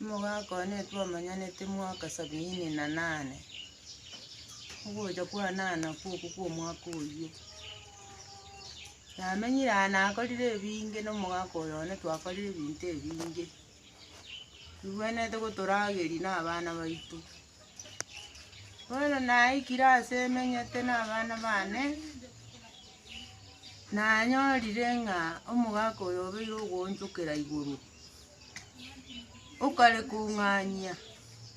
Omogaka one twamanyanete mwaka sabiini na nane, ogocha kwanana kw'okwo kw'omwaka oyio. Namenyire aa nakorire ebinge na omogaka oyo one twakorire ebinto ebinge, tibwenerete gotorageria na abana baito. Bono naikire ase emenyete na abana bane, nanyorire ng'a omogaka oyo obeire ogoonchokera igoro. Okare kong'anyia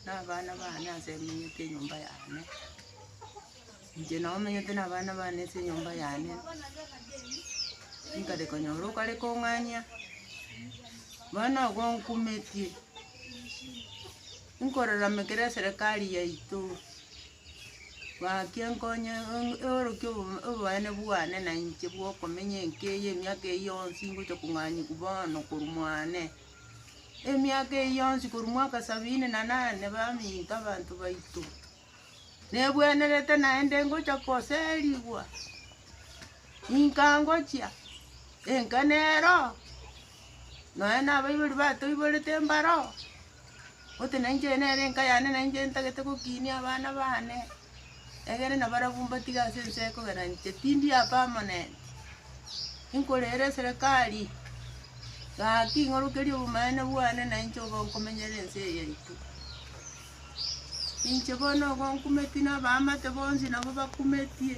nabana bane ase emenyete enyomba yane, inche nabo menyete nabana bane ase enyomba yane, nkare konyora okare kong'anyia, bono igo nkumetie, nkorora ime ekero eserekari yaito. Gaki enkonyo eorokia oboene bwane na inche bw'okomenya enka eye emiaka eye yonsi ngocha kong'anyigwa bono korwa mwane. Emiaka eye yonsi korwa mwaka sabini na nane baminto abanto baito, nebwenerete naende ngocha koserigwa, inka ngochia, enka nero, nonya nabaibori batoiborete mbaro. Gose na inche oyo nere enka yane na inche ntagete gokinia abana baane, egere na barabwo mbatiga ase ense ekogera inche tindi a permanent. Inkorere eserekari, gaki ing'orokerie obomaene bwane na inche obe nkomenyera ense eye yaito. Inche bono igo nkumeti na abaamate bonsi nabo bakumetie.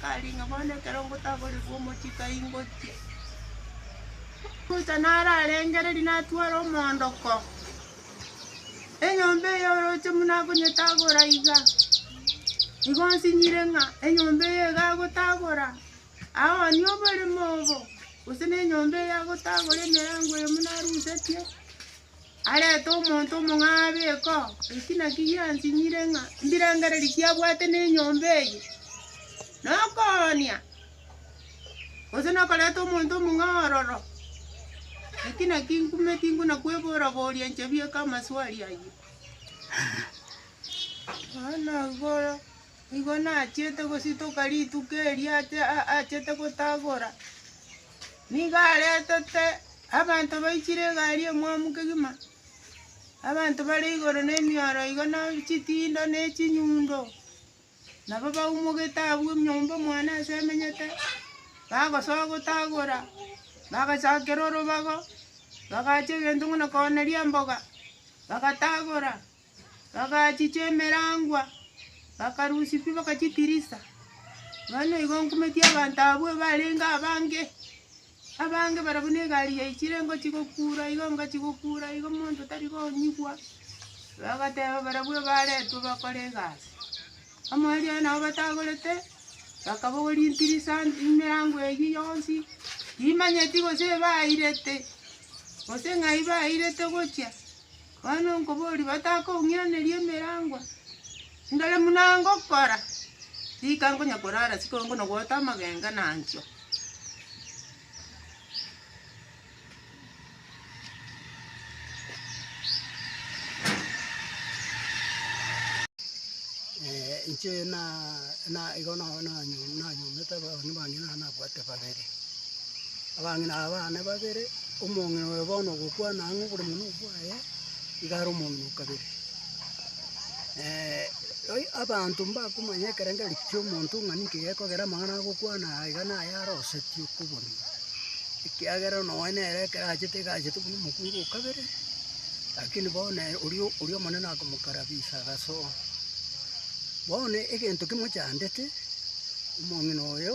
Tari ng'a bono ekero ngotaborerwa omochie tai ngochia. Ruta nararengereria natwara omoondoko, enyomba eye oroche buna akonyetagora iga, nigo nsinyire ng'a enyomba eye iga agotagora, aoonie oboremo obo, gose na enyomba eye agotagora emerango eye buna arusetie. arete omonto omong'aabu iko, eki nakio giansinyire ng'a mbirangereri kiabwate nenyomba eye, nokoonia, gose nokoreta omonto omong'ao ororo, eki nakio nkume tingona kwebora boria inche bieka amaswali ayio. Bono igoro igo nachiete gositoka rituko erio ache- a- achete gotagora, Nigo aretete abanto baichire egari emwamu kegima, abanto bare igoro nemioro igo na chitindo ne chinyundo, nabo baumogete abwo enyomba omwane ase emenyete, bagosoa gotagora, bagachakera orobago, bagacha egento buna Kornelia mboga, bagatagora. Bagachicha emerangwa, bakarusia pi bakachitirisa. Bono igo nkumeti abanto abwo barenge abange, abange barabwo ne egari yaichire ngochia gokura igo ngochia gokura igo monto tari konyigwa, bagateba barabwo baretwe bakore egasi. Omoerio oye nabo batagorete, bakabogoria ntirisa emerangwa eyio yonsi, timanyeti gose bairete, gose ng'ai bairete gochia. Bono nkoboria, batakoung'iraneria emerangwa? Ndore buna ngokora, rika nkonya korara sikongo na goeta amagenga na nchio. Eh, inche na na igo na na nanyomete abana bange na nabwate babere Abang'ina aba baane babere, omong'ina oyo bono ogokwana ang'e oborimo nobwaye, iga are omong'ina o kabere. Oi abanto mbakomanya ekerengeri ki'omonto ng'a ninki gekogera amang'ana agokwana aya iga naye arosetie okoborua, ekiagera nonya nere ekero achete iga achete buna omokungu o kabere, lakini bono ere oria oria Omonene akomokarabisa agasoa. Bono egento kimochandete, omong'ina oyo.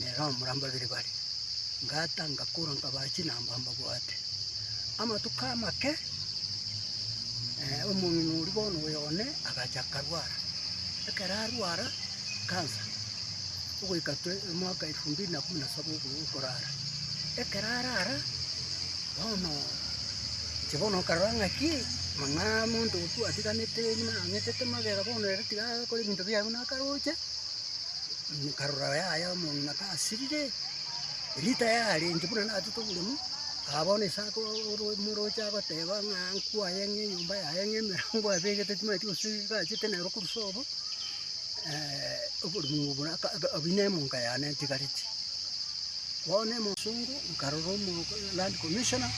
nere omorambe babere bare, ngata ngakora nkabaa chinamba mbabwate. Amatuko amake omong'ina oria bono oyo one agacha akarwara, ekero arwara cancer, ogoika twe omwaka elfu mbili na kumi na saba ogo okorara, ekero arara, bono inche bono nkarora ng'aki mang'aa monto otwatiganete ng'ina ang'etete magega bono ere tiga akore ebinto biaye buna akaroche. Nkarora yaya omong'ina tasirire, erita yarenche buna natete oboremu, aa bono ase ake omoroche agoteba ng'a nkwaye ng'a enyomba yaye ng'a emerango abegete timanyeti gose egachete nero korusia obo, oboremu obo buna aka aka abuna emonka yane ntigareti. Bono emosongo nkarora omo land commissioner,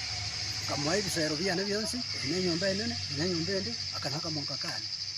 nkamoa ebisero biane bionsi, ebi ne enyomba enene, ebi ne enyomba ende, aka nakamonka kane.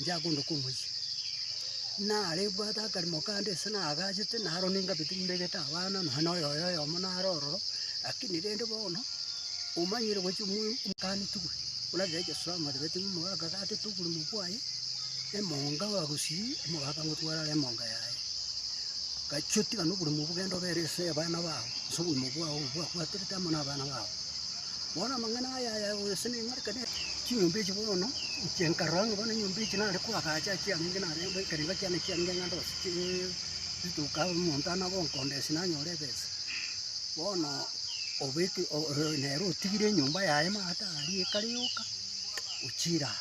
Ntiakondoka omochie. Nare bwate akarimo kande ase nagachete, naro ningabete nimbegete abana, nonya na oyoyo oyomo nare ororo, rakini rende bono, omanyire gochia omoyo omokanetigwe, oranyare gochia soa amarioretwe ng'a omogaka gatete oborimo bwaye, emonga bagosii, omogaka ngotware are emonga yaye. Gachia otigana oborimo obwo genda obere ase abana bao, ase oborimo bwao obo bwakwaterete amo nabana bao. Bono amang'ana aya ayaoe ase neng'arekane ere. Chinyomba echi bono inche nkarora ng'a bono enyomba echi nare koagacha ekiagenge narenge ekerengo kiane ekiagenge ng'a ndose chi chituka omonto anabo nkondesia nanyore ebesa. Bono obeke o- o nere otigire enyomba yaye maate aria ekare yoka, ochire aa.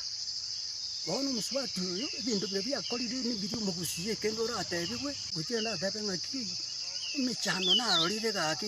Bono omosubati oyo ebinto biria biakorire nebiri omogusie kende oratebigwe, ngochie ndatebe ng'aki emechando narorire gaki.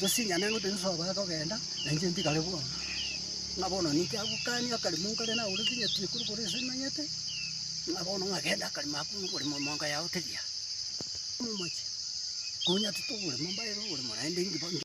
Tosinyane ng'a Yeso abare kogenda, na inche ntigare bono. Ng'a bono ninki agokania akarimo nkare nagoretwe nyatie korwa igoro ase emanyete, ng'a bono ng'a genda akarimo ako ng'a oborimo monka yao tegiya. Momoche, konya titogorema mbaere oborimo naende.